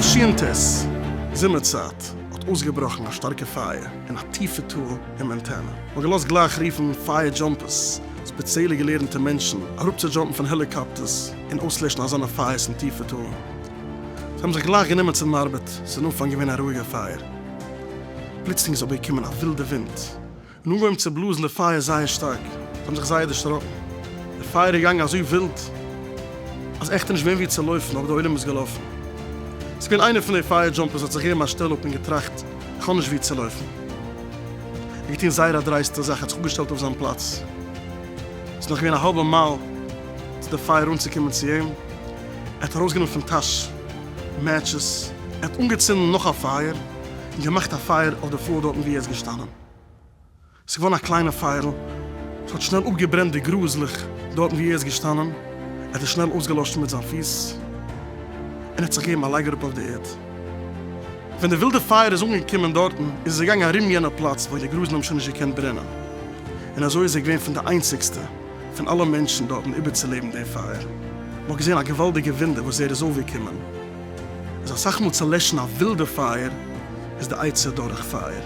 תשנ ט, זומער צייט, האט אויסגעבראכן א שטארקע פייער אין א טיפע טאל אין מאנטענע. מען האט געלאזט גלייך רופן פייער דזשאמפערס, ספעציעלע געלערנטע מענטשן, אראפצודזשאמפן פון העליקאפטערס און אויסלעשן אזאנע פייערס אין טיפע טאלן. זיי האבן זיך גלייך גענומען צו דעם ארבעט, עס איז אין אנפאנג געווען א רואיגער פייער, פלוצלינג איז אבער געקומען א ווילדע ווינט און אנגעהויבן צו בלאזן די פייער זייער שטארק, זיי האבן זיך זייער דערשראקן, די פייער איז געגאנגען אזוי ווילד אז עכט איז נישט געווען ווי צו לויפן, אבער דער עולם איז געלאפן, עס איז געווען איינער פון די פייער דזשאמפערס האט זיך געגעבן א שטעל אפ און געטראכט איך האב נישט ווי צו לויפן, ער האט געטון זייער א דרייסטע זאך ער האט זיך אפגעשטעלט אויף זיין פלאץ, עס איז נאך געווען א האלבע מייל צו די פייער אנצוקומען צו אים. ער האט ארויסגענומען פון טאש מעטשעס, ער האט אנגעצינדן נאך א פייער און געמאכט א פייער אויף די פלאר דארטן וואו ער איז געשטאנען. עס איז געווארן א קליינע פייערל, עס האט שנעל אפגעברענט די גראזלעך דארטן וואו ער איז געשטאנען, ער האט עס שנעל אויסגעלאשן מיט זיין פיס און ער האט זיך געגעבן א לייג אראפ אויף די ערד. ווען די ווילדע פייער איז אנגעקומען דארטן איז עס געגאנגען ארום יענע פלאץ וואו די גראזן האבן שוין נישט געקענט ברענען און אזוי איז ער געווען פון די איינציגסטע פון אלע מענטשן דארטן איבערצולעבן דעם פייער, מען האט געזען א געוואלדיגע וואונדער וואס ער איז אויפגעקומען, איז אסאך מאל צו לעשן א ווילדע פייער איז די עצה דורך פייער.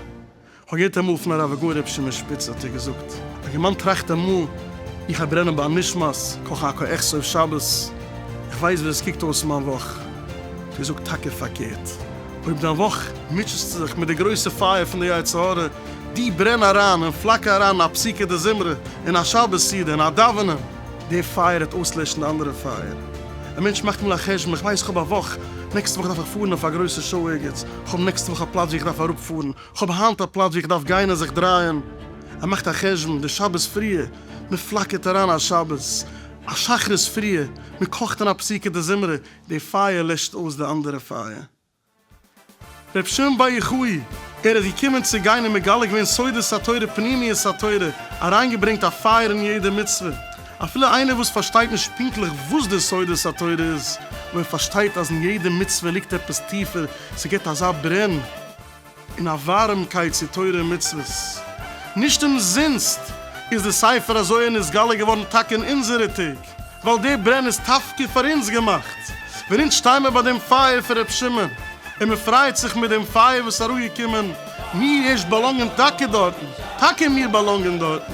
כ'האב געהערט אמאל פון הרב הגאון ר' שמעון שפיצער האט ער געזאגט, א גערמאן טראכט אמאל, איך א ברענען ביי נשמת, קאך א קאעכץ אויף שבת, איך ווייס ווי עס קוקט אויס מיין וואך, דער זאגט טאקע פארקערט, אויב דיין וואך מוטשעסטו זיך מיט די גרויסע פייער פון די יצר הרע, די ברען אריין און פלאקער אריין א פסוקי דזמרה און א שבת סעודה און א דאווענען. די פייער העט אויסלעשן די אנדערע פייער. א מענטש מאכט מאל א חשבון, איך ווייס איך האב א וואך, נעקסטע וואך דארף איך פארן אויף א גרויסע שאו ערגעץ, איך האב נעקסטע וואך א פלאץ ווי איך דארף אראפ פארן, איך האב היינט א פלאץ ווי איך דארף גיין און זיך דרייען, ער מאכט א חשבון, די שבת פריע, מען פלאקערט אריין א שבת, א שחרית פריע, מען קאכט און א פסוקי דזמרה, די פייער לעשט אויס די אנדערע פייער. רבי שמעון בר יוחאי, ער איז געקומען צו גיין און מגלה געווען סודות התורה פנימיות התורה, אריינגעברענגט א פייער אין יעדע מצוה, אפילו איינער וואס פארשטייט נישט פונקטליך וואס די סודות התורה איז, אבער ער פארשטייט אז אין יעדע מצוה ליגט עפעס טיפער, ס'געבט אזא ברען. און א ווארעמקייט צו תורה און מצוות. נישט אומזינסט איז די ספר הזוהר נתגלה געווארן טאקע אין אונזערע טעג, ווייל די ברען איז טאפקע פאר אונז געמאכט, ווען אונז שטיי מיר ביי דעם פייער פון ר' שמעון, און מען פרייט זיך מיט דעם פייער וואס איז אראפגעקומען. מיר ערשט באלאנגען טאקע דארטן, טאקע מיר באלאנגען דארטן.